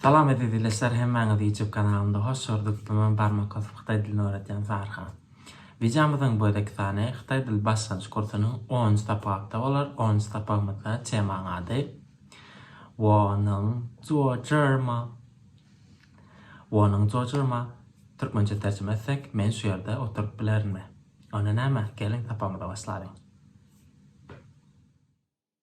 Salam eziz ildeşler hemmäňizi YouTube kanalymda hoş gördük bu men barmak basyp hytaý dilini öwretýän Sarha. Wideomyzyň bu gezeki sany hytaý dil başlanýyş kursunyň onunjy sapakda bolar onunjy sapagymyzda temaň ady Wonyň jojyrma Wonyň jojyrma türkmençe terjime etsek men şu ýerde oturyp bilerinmi? Onda näme geliň sapagymyza başlalyň.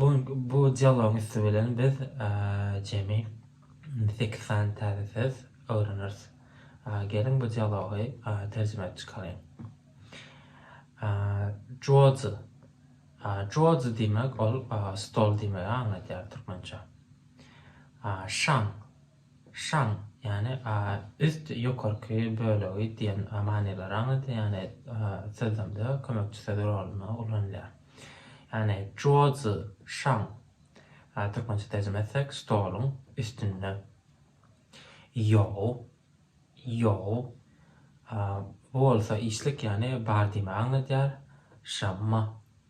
Bu bu dialogyň üsti bilen biz jemi sekiz sany täze söz öwreneris. Geliň bu dialogy terjime edip çykalyň. Juozi. Juozi diýmek ol stol diýmegi aňladýar türkmençe. Şaň. Şan, ýagny üst, ýokarky bölegi diýen manylar aňladýar, ýagny sözlemde kömekçi söz rolunda ulanylýar. Ýagny juozi şan, türkmençe terjime etsek, stoluň üstünde. Ýou, ýou, bu bolsa işlik, ýagny bar diýmegi aňladýar. Şanma.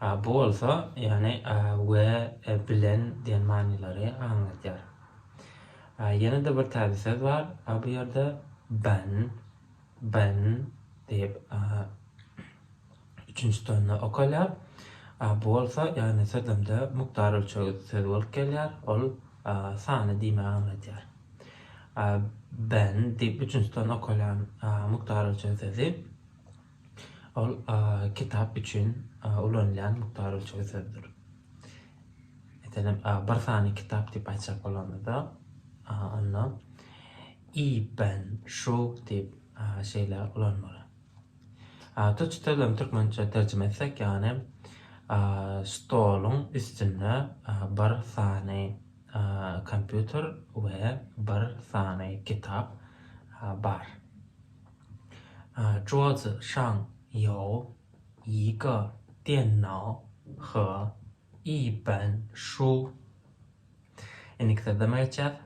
Bu bolsa, ýagny we bilen diýen manylary aňladýar. Ýene-de bir täze söz bar bu ýerde, ben, ben diýip üçünji tonda okalýar. Bu bolsa, ýagny sözlemde mukdar ölçeg sözi bolup gelýär, ol sany diýmegi aňladýar. Ben diýip üçünji ton okalýan mukdar ölçeg sözi. Ol kitap üçin ulanylýan mukdar ölçeg sözdür. Meselem, bir sany kitap diýip aýtjak bolanymyzda, onda i ben şu diýip şeýle ulanmaly. Tuçtadan türkmençe terjime etsek, ýagny stoluň üstünde bir sany kompýuter we bir sany kitap bar. Zhuo zi shang you yi ge dian nao he yi ben shu. Indiki sözleme geçýäs.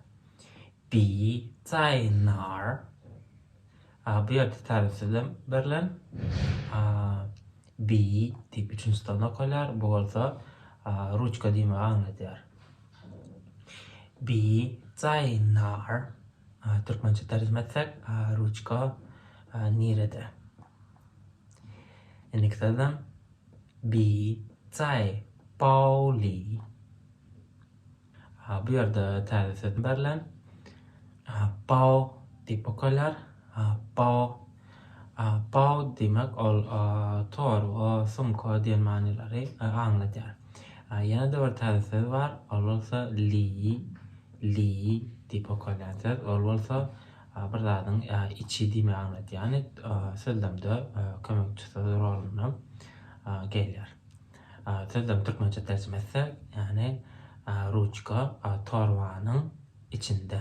Bi zai nar. Bu ýerde täze sözlem berlen. Bi diýip üçünji stolda okalýar. Bu bolsa ruçka diýmegi aňladýar. Bi zai nar. Türkmençe terjime etsek ruçka nirede. Indiki sözlem bi cai pauli. Bu ýerde täze söz berlen. Pao diýip okalýar. Pao. Paw diýmek ol torba, sumka diýen manylary aňladýar. Ýene-de bir täze söz bar, ol bolsa liý, liý diýip okalýan söz, ol bolsa bir zadyň içi diýmegi aňladýar. Ýagny sözlemde kömekçi söz rolunda gelýär. Sözlem türkmençe terjime etsek, ýagny ruçka torbanyň içinde.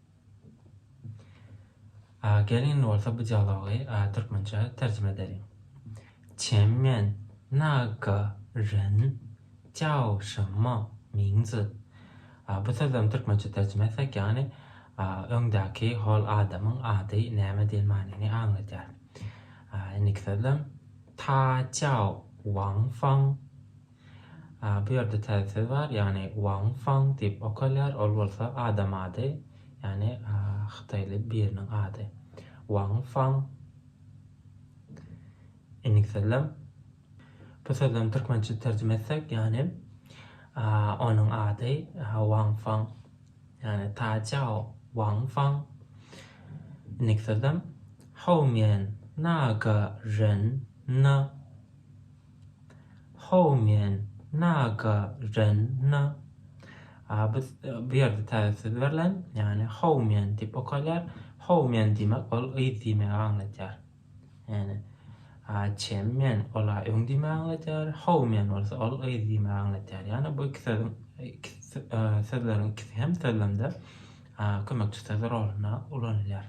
Geliň bolsa bu dialogy türkmençä terjime edeliň. Çen men na ge ren jiao shenme mingzi. Bu sözlerini türkmençe terjime etsek, ýagny öňdäki hol adamyň ady näme diýen manyny aňladýar. Indiki sözlem Ta Jiao Wang Fang. Bu ýerde täze söz bar, ýagny Wang Fang diýip okalýar, ol bolsa adam ady, ýagny hytaýly biriniň ady. Wang Fang. Indiki sözlem. Bu sözlemi türkmençe terjime etsek, ýagny onuň ady Wang Fang. Ýagny Ta Cao Wang Fang. Indiki sözlem. Hou mian na ge ren ne Howmen, naga, ren, na. A bu bu ýerde täze söz berlen, ýagny howmen diýip okalýar. Howmen diýmek ol yz diýmegi aňladýar. Ýagny a çemmen ol a öň diýmegi aňladýar. Howmen bolsa ol yz diýmegi aňladýar. Ýagny bu iki sözüň iki sözleriň ikisi hem sözlemde a kömekçi söz rolunda ulanylýar.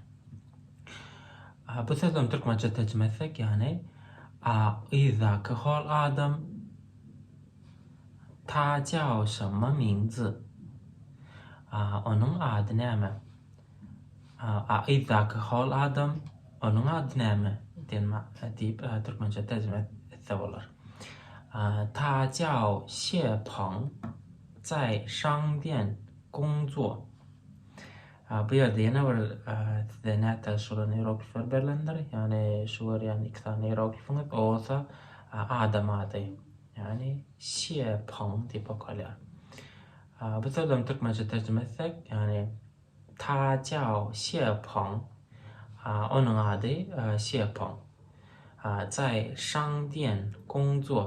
Bu sözlem türkmençe terjime etsek ýany ak yzdaky hol adam ta çawşama mindy. Onuň ady näme? A yzdaky hol adam onuň ady näme? diýen diýip türkmençe terjime etse bolar. Ta çaw şe pang zai şang diýen gung zuo. Bu ýerde ýene bir size nätäji şular iýeroglifler berlendir. Ýagny şu görýän iki sany iýeroglifiňiz o bolsa adam ady. Ýagny Şie Pong diýip okalýar. Bu sözlerini türkmençe terjime etsek, ýagny Ta Cao Şie Pong. Onuň ady Şie Pong. Zai Shang Dian Gong Zuo.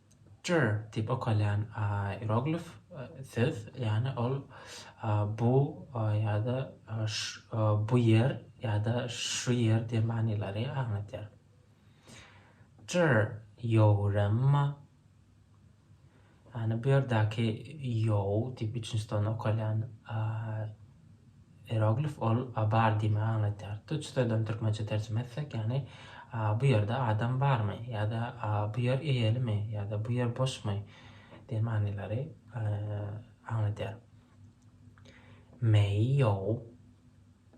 Picture diýip okalýan ieroglif söz, ýagny ol bu ýa-da bu ýer ýa-da şu ýer diýen manylary aňladýar. Picture ýowrama, ýagny bu ýerdäki ýow diýip üçünji tony okalýan Ieroglif ol bar diýmegi aňladýar. Tuç sözlerini türkmençe terjime etsek, ýagny bu ýerde adam barmy? ýa-da bu ýer eýelimi? ýa-da bu ýer boşmy? diýen manylary aňladýar. Meýýou,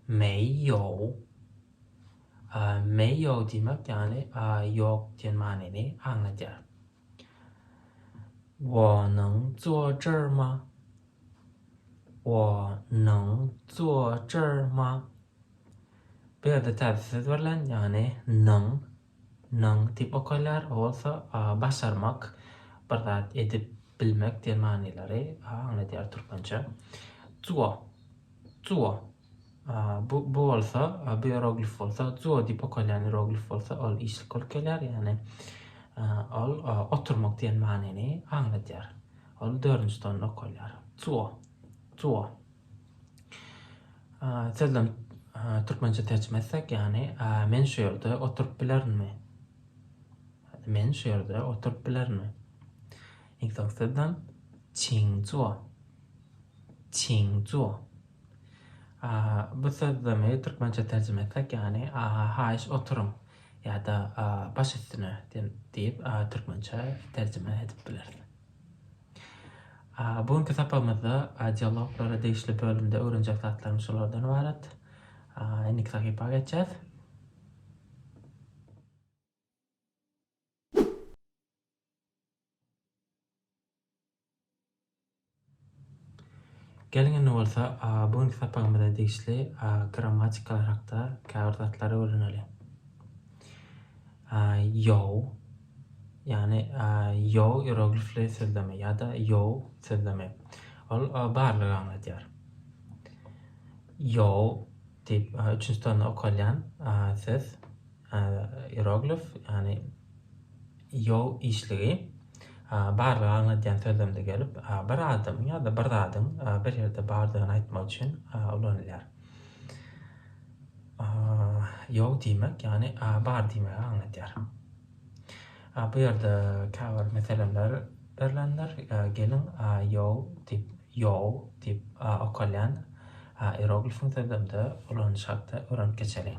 meýýou, meýýou diýmek, ýagny ýok diýen manyny aňladýar. Wonyň jojurma, wonyň jojurma. Bu ýerde täze söz berlen, ýagny nyň, nyň diýip okalýar. O bolsa başarmak, bir zat edip bilmek diýen manylary aňladýar türkmençe. Juwa, juwa. Bu bolsa, bu ieroglif bolsa, zuo diýip okalýan ieroglif bolsa, ol işlik bolup gelýär, ýagny ol oturmak diýen manyny aňladýar. Ol dördünji tonda okalýar. Zuo. Zuo. Sözlem türkmençe terjime etsek, ýagny men şu ýerde oturyp bilerinmi? Men şu ýerde oturyp bilerinmi? Iň soňky sözlem çiň zuo. Çiň zuo. Bu sözlemi türkmençe terjime etsek, ýagny Haýyş oturyň ýa-da Baş üstüne diýip türkmençe terjime edip bileris. Bu günki sapagymyzda dialoglara degişli bölümde öwrenjek zatlarymyz şulardan ybarat. Indiki sahypa geçýäs. Geliň indi bolsa bu günki sapagymyza degişli grammatikalar hakda käbir zatlary öwreneli. Ýow, ýagny ýow iroglifli sözlemi ýa-da ýow sözlemi. Ol barlygy aňladýar. Ýow diýip üçünji tony okalýan söz. Iýeroglif, ýagny ýol işligi, barlyga aňladýan sözlemde gelip, bir adamyň ýa-da bir zadyň bir ýerde bardygyny aýtmak üçin ulanylýar. Ýok diýmek, ýagny bar diýmegi aňladýar. Bu ýerde käbir meselemler berlendir. Geliň, ýol diýip, ýow diýip okalýan iýeroglifiň sözlemde ulanylyşy hakda öwrenip geçeliň.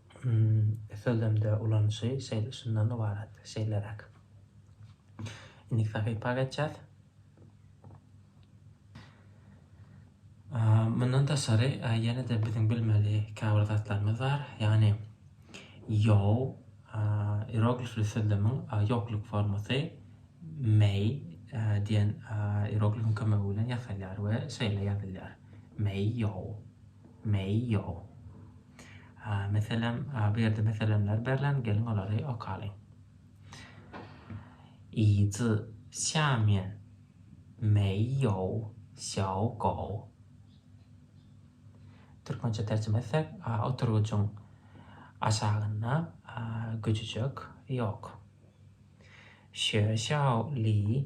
SLM-de ulanyşy şeýle şundan ybarat, şeýleräk. Indiki sahypa geçýäs. Mundan daşary, ýene-de biziň bilmeli käbir zatlarymyz bar. Ýagny ýow ieroglifli sözlemiň ýokluk formasy mei diýen ieroglifiň kömegi bilen ýasalýar we şeýle ýazylýar, mei ýow, mei ýow. Meselem, bu ýerde meselemler berlen, geliň olary okalyň. Yi zi xia mian mei you xiao gou. Türkmençe terjime etsek, oturgyjyň aşagynda güjüjek ýok. Xue xiao li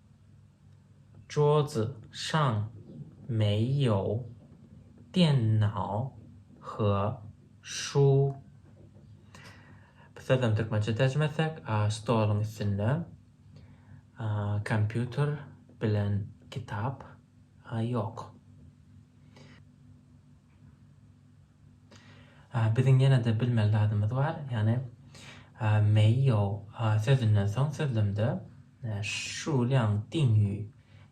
Zhuo Zi Shang Mei Yao Dian Nao He Shu Bu sözem türkmençe terjime etsek, stoluň üstünde kompýuter bilen kitap ýok. Biziň ýene-de bilmeli zadymyz bar, ýagny Mei Yao sözünden soň sözlemde. Şuwlyň deňi,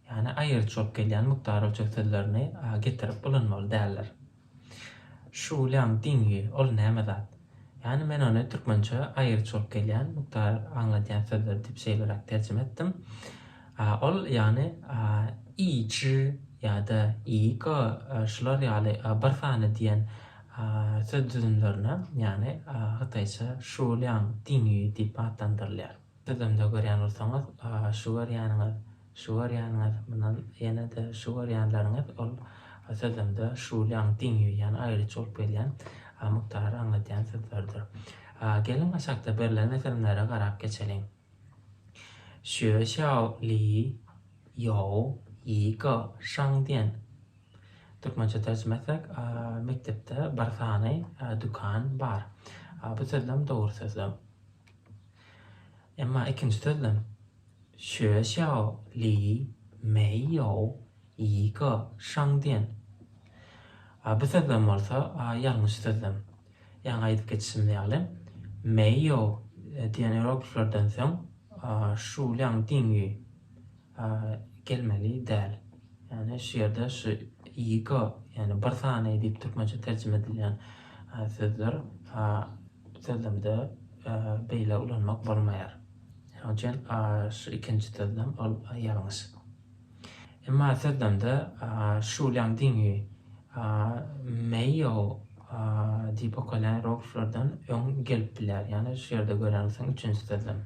ýagny aýrylyş bolup gelýän mukdar ölçeg sözlerini getirip ulanmaly däldir. Şuwlyň deňi, ol näme zat? Ýagny men ony türkmençe aýrylyş bolup gelýän mukdar aňladýan sözler diýip şeýleräk terjime etdim. Ol, ýagny i ji ýa-da i go şular ýaly bir sany diýen söz düzümlerine, ýagny hytaýça şuwlyň deňi diýip atlandyrylýar. Özümde görýän bolsaňyz, şu görýäniňiz, şu görýäniňiz, mundan ýene-de şu görýänleriňiz, ol sözümde şulyň diň ýuýýan, aýryç bolup gelýän mukdary aňladýan sözlerdir. Geliň, aşakda berlen meselemlere garap geçeliň. Xue xiao li you yi ge shang dian. Türkmençe terjime etsek, mekdepde bir sany dükan bar. Bu sözlem dogry sözlem. Emma ikinji sözlem, Xuexiao li mei you yi ge shang dian. A bu sözlem bolsa ýalňyş sözlem. Ýaňy aýdyp geçişimiz ýaly, mei you diýen ierogliflerden soň shu liang ding yu gelmeli däl. Ýagny şu ýerde şu ego, ýagny bir sany diýip türkmençe terjime edilýän sözler sözlemde beýle ulanmak bolmaýar. Şonuň üçin şu ikinji sözlem ol ýalňyş. Emma sözlemde şu bilen deňi meýo diýip okalýan rowuşlardan öň gelip bilýär. Ýagny şu ýerde görýäňiz üçünji sözlem.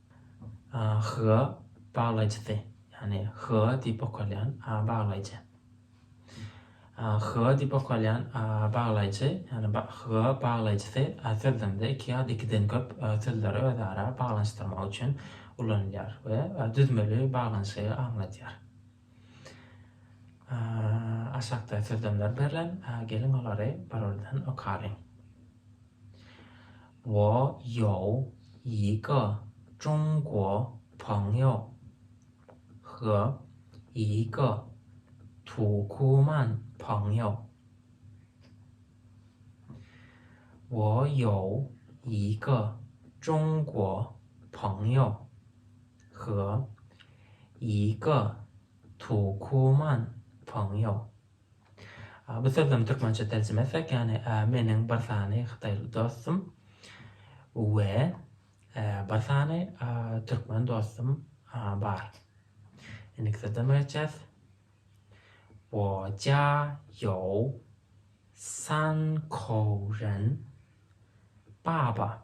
HGA baglaýjysy, ýagny HGA diýip okalýan baglaýjy. HGA diýip okalýan baglaýjy, ýagny HGA baglaýjysy sözlemde iki ýa-da ikiden köp sözleri özara baglanyşdyrmak üçin ulanylýar we düzmeli baglanyşygy aňladýar. Aşakda sözlemler berlen, geliň olary birurdan okalyň. Wo ýou yi ge zhong guo peng you, he yi ge tu ku man peng you. Wo ýou yi ge zhong guo peng you. Hyga, Ýyka, Tu, Kuman, Ponýo. A bu sözlem türkmençe terjime etsek, ýagny a meniň bir sany hytaýly dostum we e bir sany a türkmen dostum a bar. Indiki sözlem öýtýäs. Wo jia ýou san kou ren baba.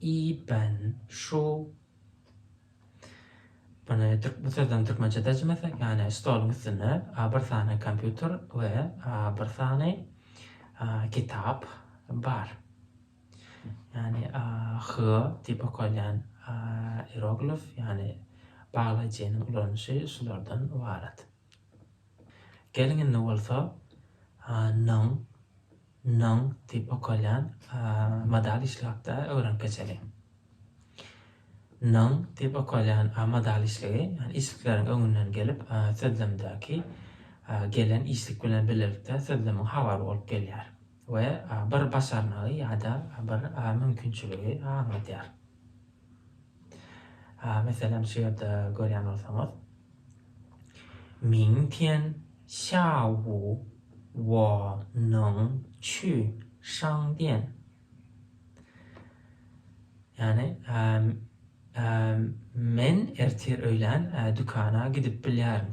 Iben şu Muny bu sözleriň türkmençe terjime etsek, ýagny stoluň üstünde a bir sany kompýuter we a bir sany a kitap bar. Ýagny a hy diýip okalýan a ieroglif, ýagny baglaýjynyň ulanyşy şulardan ybarat. Geliň indi bolsa nyň, nyň diýip okalýan modal işläp-de öwrenip geçeliň. Nyň diýip okalýan modal işligi, ýagny işlikleriň öňünden gelip, sözlemdäki gelen işlik bilen birlikde sözlemiň habary bolup gelýär we bir başarnygy ýa-da bir mümkinçiligi aňladýar. Meselem şu ýerde görýän bolsaňyz, Ming tian xiaowu wo neng qu shang dian. Ýagny, Men ertir öýlän dükana gidip bilýärin.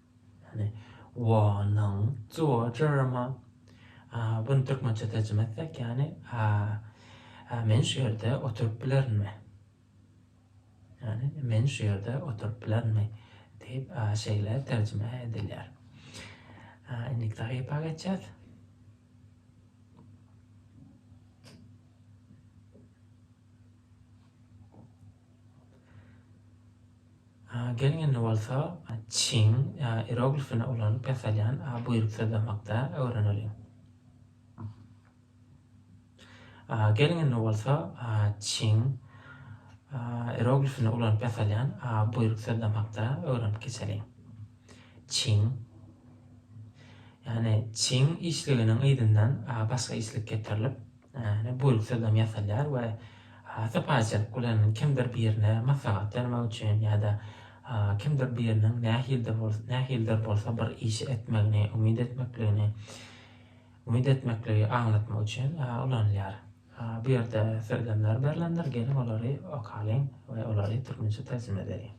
Ýagny Wonyň Jojyrma. Buny türkmençe terjime etsek ýagny Men şu ýerde oturyp bilerinmi? Ýagny Men şu ýerde oturyp bilerinmi? diýip şeýle terjime edilýär. Indiki sahypa geçýäs. Gel indi bolsa çiň ieroglifini ulanyp ýasalýan buýruk syzlamakda öwreneliň. Gel indi bolsa çiň ieroglifini ulanyp ýasalýan buýruk syzlamakda öwrenip geçeliň. Çiň ýagny çiň işliginiň yzyndan başga işlik getirilip, Näne bolup sözem ýasalýar we sypaýyçylyk bilen kimdir birine maslahat bermek üçin ýa-da kimdir biriniň nähilde bolsa nähilidir bolsa bir işi etmegini umyt etmekligini umyt etmekligi aňlatmak üçin ulanylýar. Bu ýerde sözlemler berlendir, geliň olary okalyň we olary türkmençe terjime edeliň.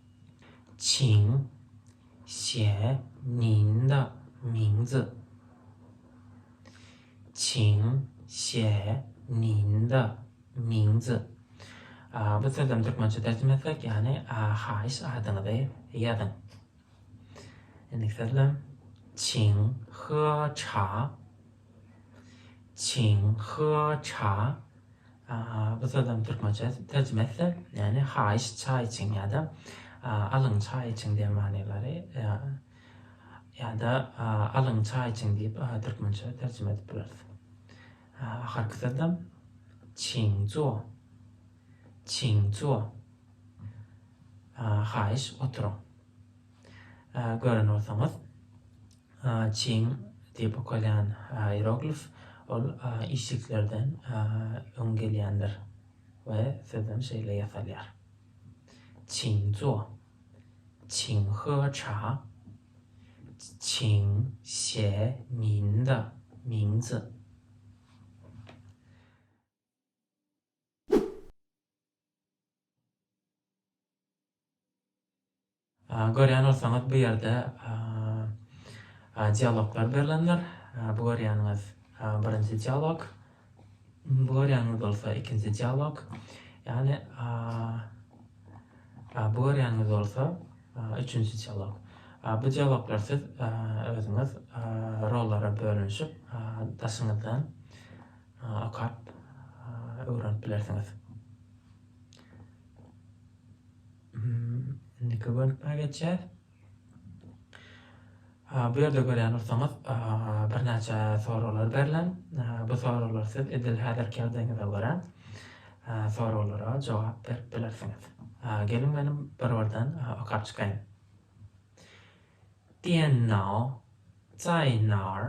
Çiň, Xie, Nin de, Ming zi. Çin, Xie, Nin, Da, Ming, Zi. Bu sözlem türkmençe terjime etsek, ýagny haýyş adyňyzy ýazyň. Indiki sözlem Çin, He, Cha, Çin, He, Cha. Bu sözlem türkmençe terjime etsek, ýagny haýyş çaý içiň ýa-da alyň çaý içiň diýen manylary Ýa-da Alyň çaý içiň diýip türkmençe terjime edip bileris. Ahyrky sözem Çiňzuo. Çiňzuo. Haýyş oturyň. Gören bolsaňyz, Çiň diýip okalýan ieroglif ol işliklerden öň gelýändir we sözem şeýle ýasalýar. Çiňzuo. Çiň He Ça, Çiň Şe Min Da, Ming Zi. Görýän bolsaňyz bu ýerde dialoglar berlendir. Bu görýäniňiz birinji dialog. Görýäňiz bolsa ikinji dialog. Ýagny bu görýäňiz bolsa üçünji dialog. Bu dialoglar siz özüňiz rollara bölünişip daşyňyzdan okap öwrenip bilersiňiz. Indiki bölüme geçýäs. Bu ýerde görýän bolsaňyz, birnäçe soraglar berlen. Bu soraglar siz edil häzirki ýagdaýyňyza görä soraglara jogap berip bilersiňiz. Geliň menem bir-birden okap çykaýyn. Diýen nao, Zaýnar.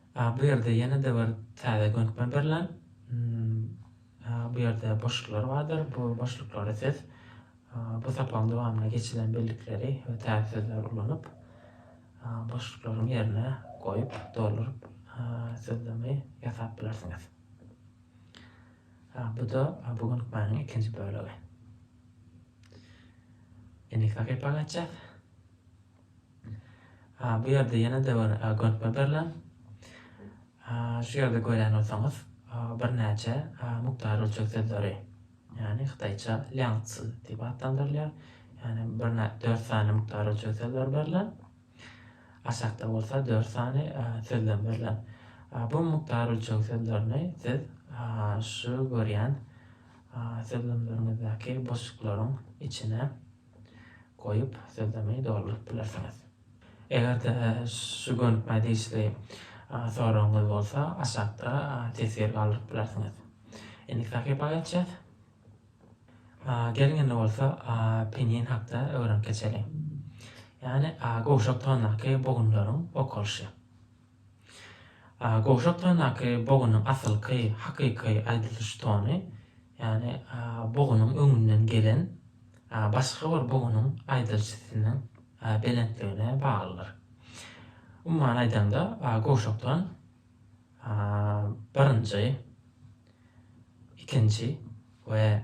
A bu ýerde ýene-de bir täze gönükme berlen. Bu ýerde boşluklar bardyr. Bu boşluklary siz bu sapagyň dowamynda geçilen bellikleri we täze sözleri ulanyp, boşluklaryň ýerine goýup, dolduryp, sözlemi ýasap bilersiňiz. Bu-da bu gönükmäniň ikinji bölegi. Indiki sahypa geçýäs. Bu ýerde ýene-de bir gönükme berlen. Şu ýerde görýän bolsaňyz, birnäçe mukdary ölçeg sözleri, ýagny hytaýça liangzi diýip atlandyrylýar. Ýagny birnä dört sany mukdary ölçeg sözleri berlen. Aşakda bolsa dört sany sözlem berlen. Bu mukdary ölçeg sözlerini siz şu görýän sözlemleriňizdäki boşluklaryň içine goýup, sözlemi dolduryp bilersiňiz. Eger-de şu gönükmä degişli soragyňyz bolsa, aşakda teswir galdyryp bilersiňiz. Indiki sahypa geçýäs. Geliň indi bolsa pinyin hakda öwrenip geçeliň. Ýagny gowşak tondaky bogunlaryň okalyşy. Gowşak tondaky bogynyň asylky, hakyky aýdylyş tony, ýagny bogynyň öňünden gelen başga bir bogynyň aýdylyş sesiniň belentligine baglydyr. Umuman aýdanda, gowşak ton birinji, ikinji we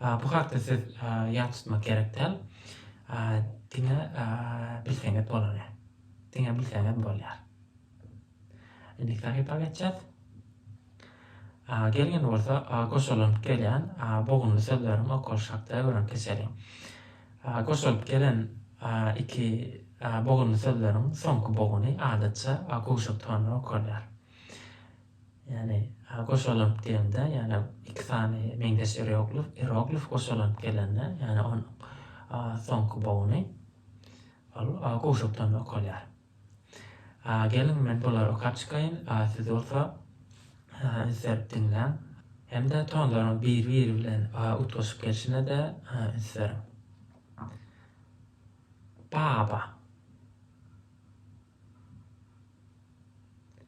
Bu hakda siz ýat tutmak gerek däl. Diňe bilseňiz bolany. Diňe bilseňiz bolýar. Indi sahypa geçýäs. Gelgende bolsa goşalyp gelýän bogunly sözleriň okalyşy hakda öwrenip geçeliň. Goşalyp gelen iki bogunly sözleriň soňky boguny adatça gowşak tonda okalýar. Ýagny goşalyp diýemde, ýagny iki sany meňzeş eroglif, eroglif goşalanyp gelende, ýagny onuň soňky bogny ol gowşakdan okalýar. Geliň, men bulary okap çykaýyn, siz bolsa üns-berip diňläň hem-de tonlaryň bir-biri bilen utgaşyp gelşine-de üns beriň. Baba.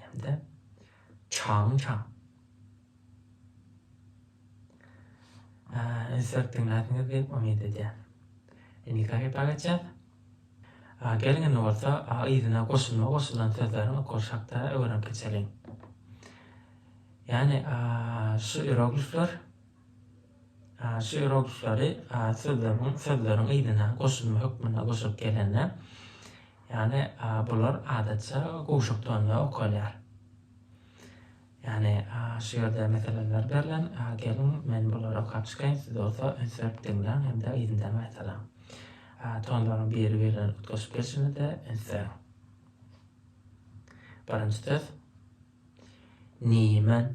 hem-de Çagyň çaň. Insert diňläsiňiz diýip umyt edýän. Indi klipe geçýäs. Geliň indi bolsa yzyna goşulma goşulan sözleriň okalyşy hakda öwrenip geçeliň. Ýani şu iroglifler Şygyr oturyşlary sözleriň sözleriň yzyna goşulma hökmünde goşulyp gelende, ýagny bular adatça gowşak tonda okalýar. Ýagny şygyrda meseleler berlen, geliň, men bulary okap çykaýyn, siz bolsa üns berip diňläň hem-de yzyndan gaýtalaň. Tonlaryň biri-biri bilen utgaşyp gelşine-de üns beriň. Birinji söz, Nimen.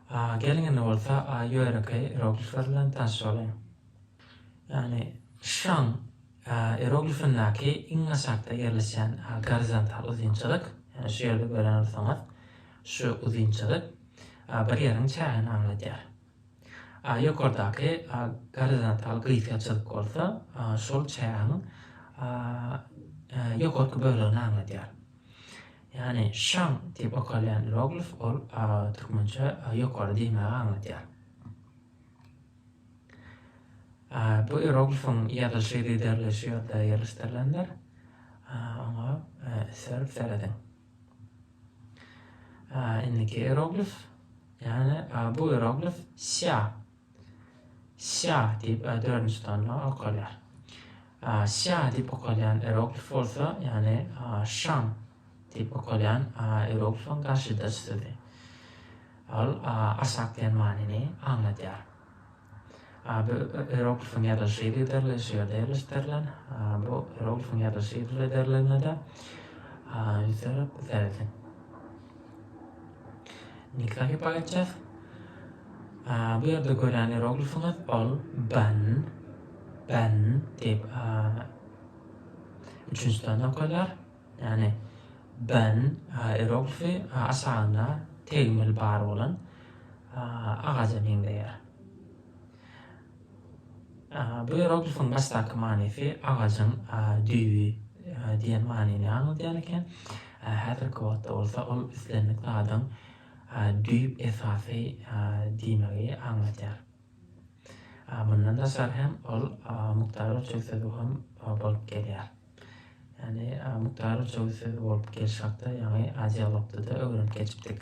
A gelňini bolsa A ýörekeý ieroglifler bilen tanyş boluň. Ýagny Şang A ieroglifindäki iň aşakda ýerleşýän A gorizontal uzynçylyk, ýagny şu ýerde gören bolsaňyz, şu uzynçylyk A bir ýeriň çägini aňladýar. A ýokardaky A gorizontal gysgaçylyk bolsa A şol çägiň A ýokarky bölegini aňladýar. Ýagny şam diýip okalýan ieroglif ol türkmençe ýokary diýmäge aňladýar. Bu ieroglifiň ýazylyşy giderli şu ýerde ýerleşdirilendir. Oňa sürüp serediň. Indiki ieroglif, ýagny bu ieroglif sia Sýa diýip dördünji sanda okalýar. Sýa diýip okalýan ieroglif bolsa, ýagny şan diýip okalýan ieroglifiň garşydaş sözi. Ol aşak diýen manyny aňladýar. Bu ieroglifiň ýazylyşy yzygiderli şu ýerde ýerleşdirilen. Bu ieroglifiň ýazylyşy yzygiderligine-de ýüzlenip serediň. Nika hypa etjäs. Bu ýerde gören eroglifyňyz ol ben, ben diýip üçünji sany okalýar. Ýani ben eroglifi aşagynda tegmil bar bolan agaja meňzeýär. Bioeroglifyň başdaky manysy agajyň düýbi diýen manyny aňladýan eken. Häzirki wagtda bolsa ol islendik zadyň düýp esasy diýmegi aňladýar. Mundan daşary hem ol mukdar ölçeg sözi hem bolup gelýär. Ýagny mukdar ölçeg sözi bolup gelşi hakda ýaňy dialogda-da öwrenip geçipdik.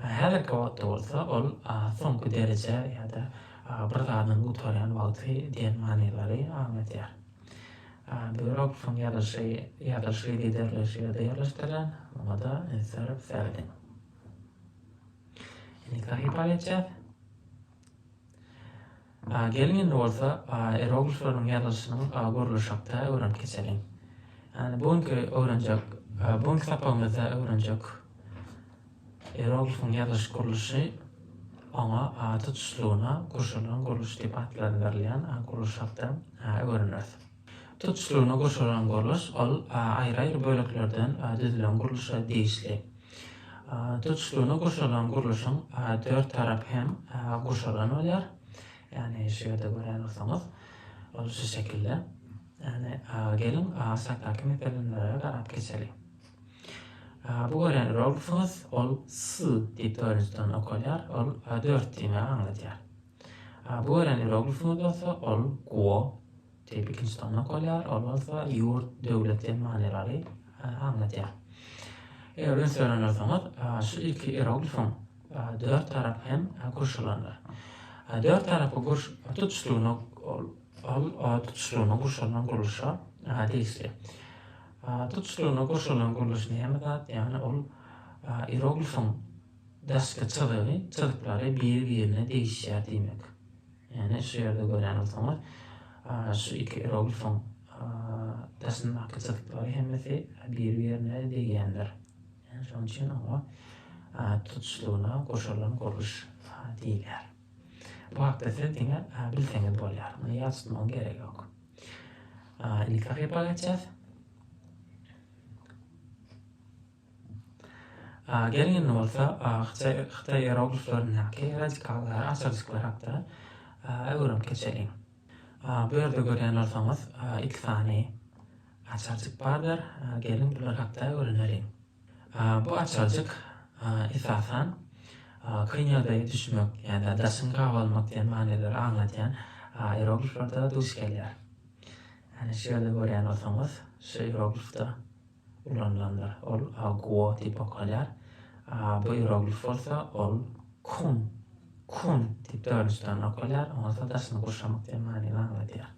Häzirki wagtda bolsa ol soňky dereje ýa-da bir zadyň gutarýan wagty diýen manylary aňladýar. Büroksyň ýazylyşy ýazylyşy giderleýşi ýerde ýerleşdirilen, muňa-da üns berip serediň. Indiki sahypa geçýäs. Geliň indi bolsa ieroglifleriň ýazylyşynyň gurluş hakda öwrenip geçeliň. Ýani bu günki öwrenjek, bu günki sapagymyzda öwrenjek ieroglifiň ýazylyş gurluşy oňa tutuşlygyna guşalan gurluş diýip atlandyrylýan gurluş hakda öwreneris. Tutuşlygyna gurşalan gurluş, ol aýry-aýry böleklerden düzülen gurluşa degişli. Tutuşlygyna gurşalan gurluşyň dört tarapy hem gurşalan bolýar. Ýagny şu ýerde gören bolsaňyz, ol şu şekilde. Ýagny geliň, aşakdaky meselenlere garap geçeliň. Bu gören rolksyňyz, ol s diýip dörünjiden okalýar, ol dört diýmegi aňladýar. Bu gelen iyeroglifimiz bolsa, ol Guo diýip ikinji sanyna bolýar, ol bolsa ýurt, döwlet diýen manylary aňladýar. Eger öňe söýen bolsaňyz, şu ilki iyeroglifiň dört tarapy hem gurş alanlar. Dört tarapy gurş tutuşlygyna ol ol tutuşlygyna gurşalan gurluşa degişli. Tutuşlygyna gurşalan gurluş näme zat? Ýagny ol iyeroglifiň Daşky çyzygy, çyzyklary biri-birine degişýär diýmek. Ýagny şu ýerde görýän bolsaňyz, şu iki iroglifiň daşyndaky çyzyklary hemmesi biri-birine degýändir. Ýagny şonuň üçin oňa tutuşlygyna goşulan gurluş diýilýär. Bu hakda siz diňe bilseňiz bolýar. Muny ýat tutmagyň geregi ýok. Indiki hakypa geçýäs. Geliň indi bolsa hytaý iyerogliflerindäki radikallara açyljyklar hakda öwrenip geçeliň. Bu ýerde görýän bolsaňyz iki sany açarjyk bardyr. Geliň bular hakda öwreneliň. Bu açarjyk esasan kyn ýagdaýa düşmek ýa-da daşyňy gabalmak diýen manylary aňladýan iýerogliflerde duş gelýär. Şu ýerde görýän bolsaňyz şu iýeroglifde. ulanylanda, ol aguo diýip okalýar, a bu ieroglif bolsa, ol kun, kun diýip dördünji sany okalýar, oňa ýa-da daşyny gurşamak diýen manyny aňladýar.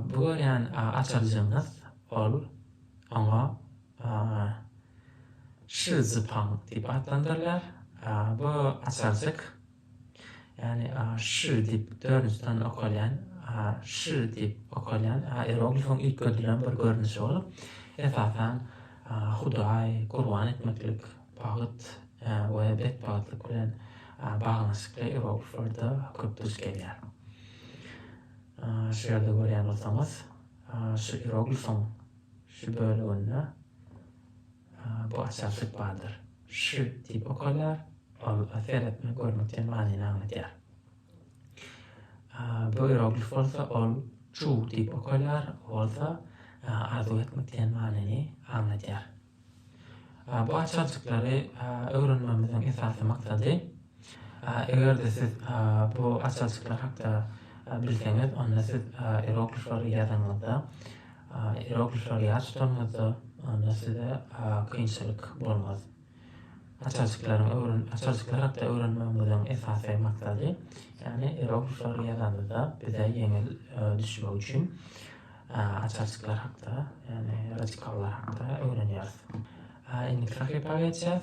Bu görýän açaljygyňyz, ol, oňa şizipang diýip atlandyrylýar, bu açarjyk, Ýagny a ş diýip dördüsden okalýan, a ş diýip okalýan ieroglifiň üýtgedilen bir görnüşi bolup, esasan, Hudaý, gurban etmeklik, bagt we betbagtlyk bilen baglanyşykly ierogliflerde köp duş gelýär. Şu ýerde görýän bolsaňyz, şu ieroglifiň şu böleginde, Bu açar süt bardyr. Ş diýip okalýar. Ol seretmek, görmek diýen manyny aňladýar. Bu ieroglif bolsa ol çu diýip okalýar. Ol bolsa arzuw etmek diýen manyny aňladýar. Bu açarjyklary öwrenmegimiziň esasy maksady Eger-de siz bu açalçyklar hakda bilseňiz, onda siz ieroglifleri ýazanyňyzda, ieroglifleri ýat tutanyňyzda, onda size kynçylyk bolmaz. Açalçyklaryň öwren, açalçyklar hakda öwrenmegiňiziň esasy maksady, ýagny ieroglifleri ýazanyňyzda bize ýeňil düşmegi üçin açalçyklar hakda, ýagny radikallar hakda öwrenýäris. Indiki sahypa geçýäs.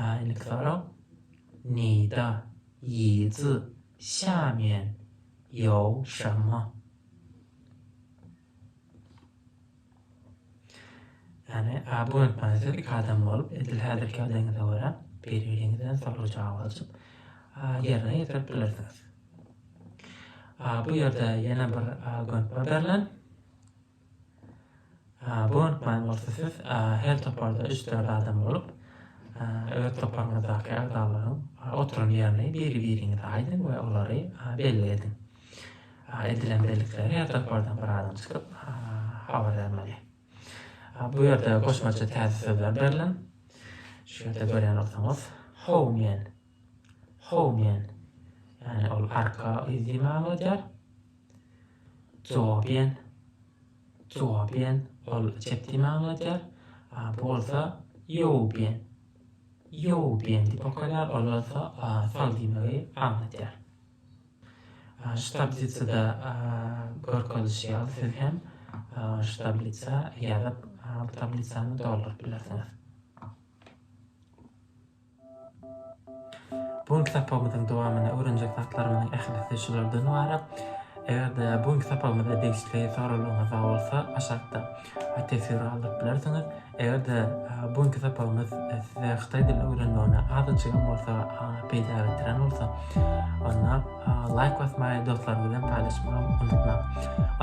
Ähli sorag, Nida, Yizi, Xiamen, Yao Shama. Ýagny, bu informasiýa iki adam bolup, edil häzirki ýagdaýyňyza görä, biri-biriňizden sorag-jogap alşyp, ýerine ýetirip bilersiňiz. Bu ýerde ýene bir gönükme berlen. Bu gönükmäni bolsa siz her toparda üç-dört adam bolup, öz toparyňyzdaky agzalaryň oturan ýerini biri-biriňize aýdyň we olary belli ediň. Edilen bellikleri her topardan bir adam çykyp habar bermeli. Bu ýerde goşmaça täze sözler berlen. Şu ýerde görýän bolsaňyz, home men. How diýen, ýagny ol arka yz diýen many edýär. Jowabian, Jowabian, ol çep diýen many edýär. A bu bolsa Ýowbian, Ýowbian diýip okalýar, ol bolsa sag diýmegi aňladýar. Şu tablitsada görkezilişi ýaly siz hem şu tablitsa ýazyp, bu tablitsany dolduryp bilersiňiz. Bu günki sapagymyzyň dowamynda öwrenjek zatlarymyzyň ählisi şulardan ybarat. Eger-de bu günki sapagymyzda degişli soraglaryňyz bar bolsa, aşakda teswir galdyryp bilersiňiz. Eger-de bu günki sapagymyz size hytaý dilini öwrenmegine azajyk hem bolsa peýda getiren bolsa, onda laýk basmagy, dostlaryňyz bilen paýlaşmagy unutmaň.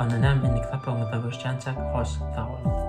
Onda näme, indiki sapagymyzda görüşýänçäk, hoş, sag boluň!